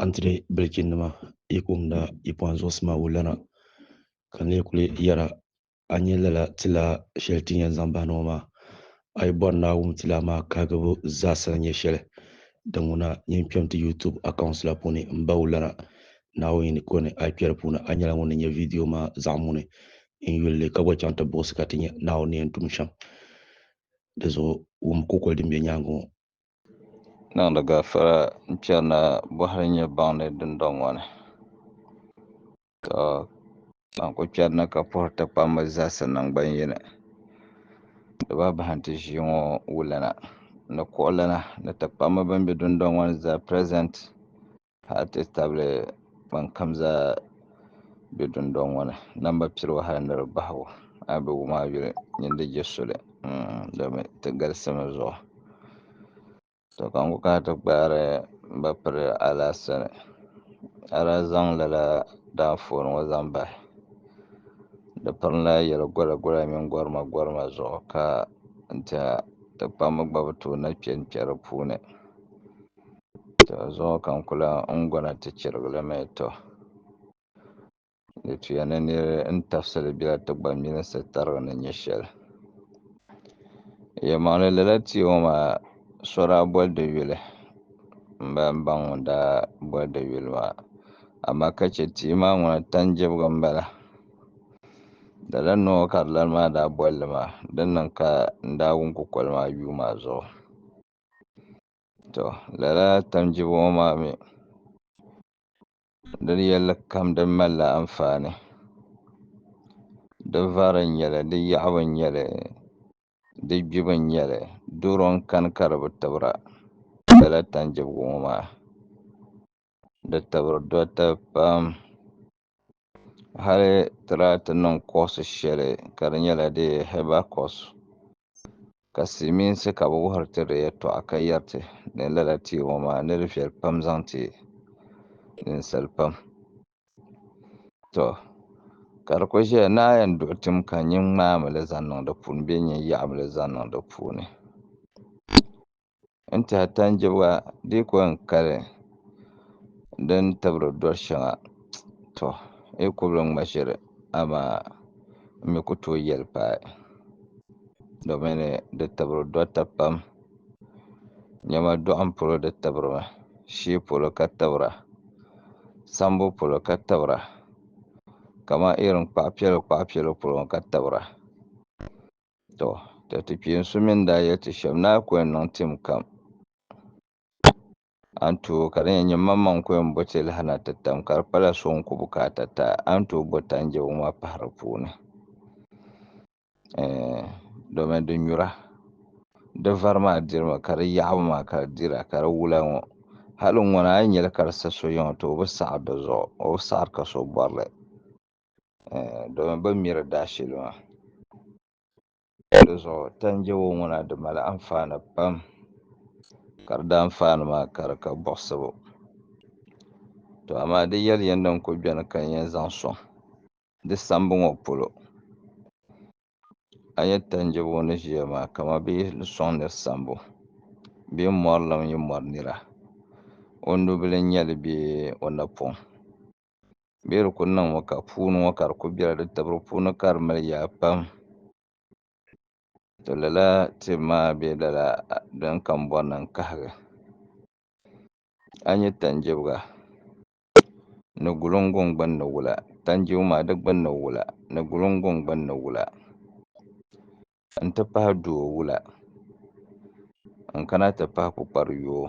Antire bilichinnima yi kumda yipoan zuɣusi maa wulana ka n lee kuli yɛra a ni nyɛ lala tilaa shɛli ti ni yɛn zaŋ bahina ŋɔ maa a yi bɔri ni a wum tilaa maa kahigibu zaasa ni nyɛ shɛli din ŋuna nyin kpɛm ti YouTube accounts la puuni m ba wulana Naawuni ni kɔni a yi kpɛri puuni a nyɛla ŋun ni nya vidio maa zaɣ muni n yuli li ka gba chaŋ ti buɣisi ka ti nya Naawuni ni yɛn tum shɛm di zuɣu wum kukoli din be nyaaŋa ŋɔ. Niŋdi gafara n-chani na bɔhiri nyɛ baŋ ni dundɔŋ ŋɔ ni. Tɔ! Ban kul chani na ka puhiri ti kpammi zahisi naŋgban yini, di ba bahi nti ʒii ŋɔ wulana ni kuɣulana ni ti kpammi bɛn be dundɔŋ ŋɔ ni zaa present. hali ti tabili ban kam zaa be dundɔŋ ŋɔ ni namba piribu hali ni di bahigu a yi be wum a yuli nini di je soli domi ti galisi mi zuɣu to ka n ku kana ti gbaari m ba piri a lahi sani a daa zaŋ lala daafooni ŋɔ zaŋ bahi di piri la yɛli gɔla gɔla mini gɔrima gɔrima zuɣu ka n tiɛha ti kpammi gba bi tooi na kpe n kpe di puuni. tɔ zuŋɔ ka n ku lan gɔna ti chirigi li mi tɔ di tuya ni nir ni tafsi li bela ti gba milinsi tarigi ni nya shɛli yɛlimaŋli lala tia ŋɔ maa so daa boli di yuli m-bala m-ba ŋun daa boli di yuli maa amaa ka chɛ tia maa ŋuna tan jɛbiga m-bala lala nɔ ŋɔ ka di lani maa daa boli li maa din niŋ ka n daa wum kukoli maa yuu maa zuɣu To lala tamjibu ŋɔ maa mi di yɛlli kam di malila anfaani di vari n nyɛli di yaɣibu n nyɛli di gbibu n nyɛli doro n kani ka di bi tibira lala tanjibgu ŋɔ maa di tibiri dota pam. hali ti daa ti niŋ kɔɔsi shɛli ka di nyɛla di hɛba kɔɔsi ka silimiinsi ka bɛ wuhiri ti di yɛtɔɣa ka yɛri ti ni lala tia ŋɔ maa ni di viɛli pam zaŋ ti ninsali pam tɔ ka di kuli ʒeya ni a yɛn duɣi tim ka nyin ŋmaai mi li zaŋ niŋ di puuni bee nyin yaɣi mi li zaŋ niŋ di puuni. N tihi tanjibga dii ko n kali di ni tibiri doli shɛŋa to n yi kubili ŋma ʒiri amaa n mi ku tooi yɛli paai domin di tibiri dorita pam niɛma doɣam polo di tibirimi shee polo ka tibira sambo polo ka tibira kamani irin kpaɣa piɛla kpaɣa piɛla polo ŋo ka tibira Tɔ! Ka ti kpeensu mi ni daa yɛli ti shɛba, Naa ku yɛn niŋ tim kam, a ni tooi ka di nyɛ nyinimaŋmaŋ n-ku yɛn bo ti lahi na ti tam, ka di kpala so ŋun ku bi ka ata ta, a ni tooi bo tanjɛbo maa pahi di puuni. Ɛɛn, domi di nyura, di vari maa dirimi, ka di yaɣibu maa ka di dira, ka di wula ŋɔ, hali ŋuna a yi nya li ka di sa so yiŋa, tɔ! O bi saɣiri di zuɣu, o bi saɣiri ka so bɔri li. domi bɛ miri daa shili maa di zuɣu tandi wa ŋuna di mali anfaani pam ka di daa anfaani maa ka di ka buɣisibu to amaa di yɛli ya din kuli beni ka nya zaŋ sɔŋ di sambu ŋɔ polo a nya tandi wa ni ʒiya maa kaman bɛ yi sɔŋ niri sambu bɛ yi mɔri lan yi mɔri nira o nubila n-nyɛ li bee o napɔŋ bee di kuli niŋmi ka puuni ŋɔ ka di kuli bela di tibiri puuni ka di mali yaa pam to lala tibu maa bee lala din kambɔrina n-kahigi a nya tanjibga ni gulunguŋ gbunni wula tanjibga maa di gbunni wula ni gulunguŋ gbunni wula. n-ti pahi duo wula n-kana ti pahi kpukpari yoo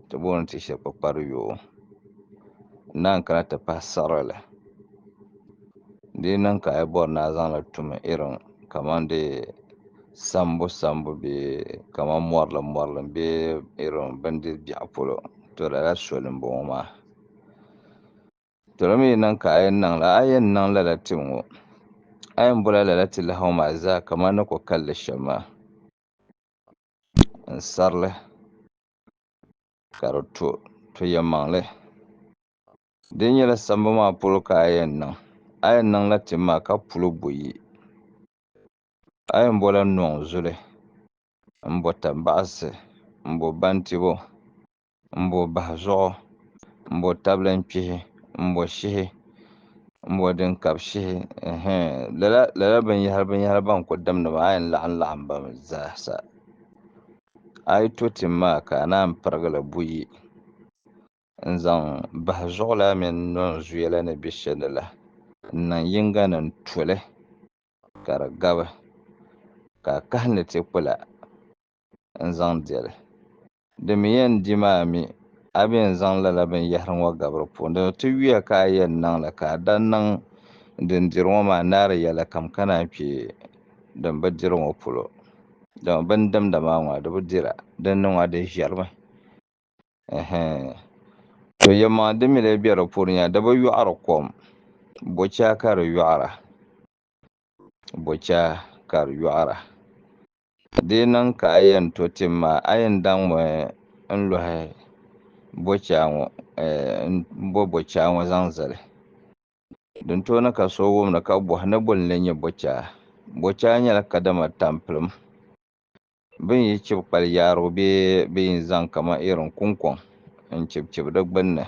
ti booni ti shɛli kpukpari yoo n-naan kana ti pahi siɣirili di yi niŋ ka a yi bɔri ni a zaŋ li tum irin kamani dee sambu sambu bee kamani mɔrilim mɔrilim bee irin bindiri biɛɣu polo to lala soli m-bɔŋɔ maa Dolimi yi niŋ ka a yɛn niŋ la, a yɛn niŋ lala tim ŋɔ. A yɛn bola lala ti lahaw maa zaa kaman ni ko kalli shɛm maa. N sari li ka di to, to yɛnmaŋli. Di nyɛla sambu maa polo ka a yɛn niŋ. A yɛn niŋ la tim maa ka puli buyi. A yɛn bola nɔŋ zuli, m-bo tambaɣisi, m-bo bantibo, m-bo bahi zuɣu, m-bo tabilim kpihi, m-bo shihi, m-bo din kabi shihi, ɛhɛ! Lala binyɛhiri binyɛhiri bɛn kul dim ni maa a yɛn laɣim laɣim ba mi zaasa. A yi to tim maa ka a naan pirigi li buyi n-zaŋ bahi zuɣu la mini nɔnzuya la ni be shɛli ni la n-niŋ yiŋga ni n-tu li ka di gabi, ka a kahi ni ti kpula n-zaŋ deli. Di mi yɛn di maa mi, a bi yɛn zaŋ lala binyɛhiri ŋɔ gabiri puuni. Dama ti yuya ka a yɛn niŋ li, ka a daa niŋ din diri ŋɔ maa naari yɛlikam ka naan kpe din bi diri ŋɔ polo. Dama bɛ ni dimda maa ŋɔ a di bi dir a, din ni ŋɔ a di ʒirimi. Ɛhɛn! To yɛlimaŋli din mi lee be di puuni nya, di bi yɔɣiri kom. Bochaa ka di yɔɣira. Bochaa ka di yɔɣira. Ka dee niŋ ka a yɛn to tim maa, a yɛn daŋ mi n-lɔhi bɔchaa ŋɔ, m-bɔ bɔchaa ŋɔ zaŋ zali. Din tooi ni ka so wum ni ka bɔhi ni boli n-lee nyɛ bɔchaa? Bɔchaa nyɛla kadama tampilim bɛ ni yi chibi kpali yaarigu bee bɛ yi zaŋ kaman irin kuŋkɔŋ n-chibichibi di gbinni.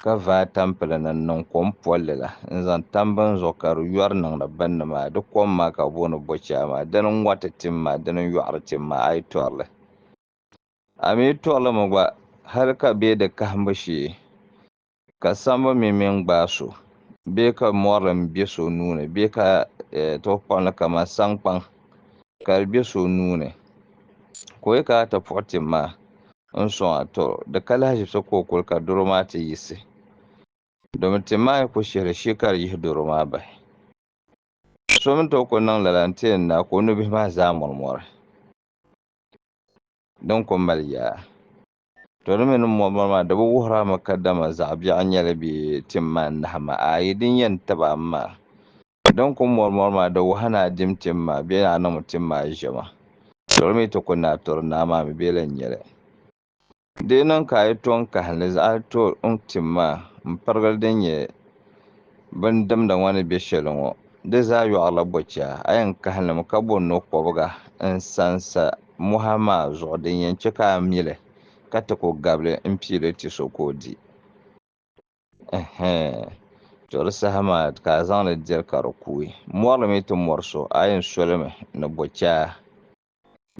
Ka vaai tampili ni n-niŋ kom polli la, n-zaŋ tam bini zuɣu ka di yɔri niŋdi binni maa. Di kom maa ka bɛ booni Bɔchaa maa. Dini n-ŋɔriti tim maa, dini n-yɔɣiri tim maa, a yi tɔri li. A mi yi tɔri li mi gba, hal ka be di kahimbu shee, ka sambu mi mi n-gbaai so, bee ka mɔri li m-be so nuu ni, bee ka ti kpaŋ li kaman saŋkpaŋ, ka di be so nuu ni, ka o yi kana ti puɣi tim maa, n sɔŋ a tɔro, di ka lahi ʒibisi ka o kuli ka doro maa ti yiɣisi, domi ti maai ku shihiri shee ka di yihi doro maa bahi. So mi tooi ku niŋ lala nti yɛn naai ka o nubihi maa zaa mɔrimɔri din ku mali yaa. To di mi ni mɔrimɔri maa di bi wuhir a mi kadama zaɣ biɛɣu n-nyɛ li bee ti maai nahi ma ayi din yɛn tib a mi maa Din kum mɔrimɔri maa di wahi ni a dim tim maa bee ni a niŋmi tim maa ʒiɛma. Tɔri mi ti ku ni a tɔri naa maa mi bee la n-nyɛ li. Di yi niŋ ka a yi to n kahi ni zaɣ to n tim maa m-pirigili din nyɛ bin dimda ŋɔ ni be shɛli ŋɔ, di zaa yɔɣirila bɔchɛa. A yɛn kahi limi ka bo no kɔbiga n-sa n-sa mɔha maa zuɣu din yɛn chɛ ka a mi li ka ti ku gabili m-pii li ti so ka o di. to di saha maa ka a zaŋli diri ka di kuui mɔri mi ti mɔri so a yɛn solimi ni bɔ chaa